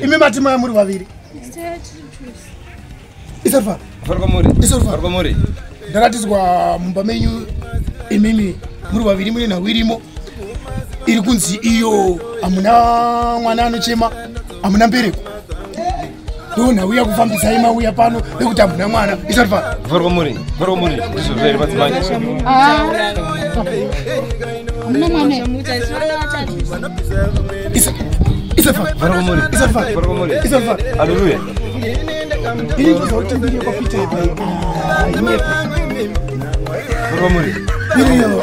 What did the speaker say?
imi mati maya muri vaviri ndaratidzwa mumba menyu imimi muri vaviri mune nhau irimo iri kunzi iyo hamuna mwana anochema hamuna mbereko dona uya kufambisa ima uya pano nekuti hamuna mwana isati pano vhorwa muri vhorwa muri ndizvo zveri madzimai aleluya ini kuzoti mbiri kwapita vhorwa muri iriyo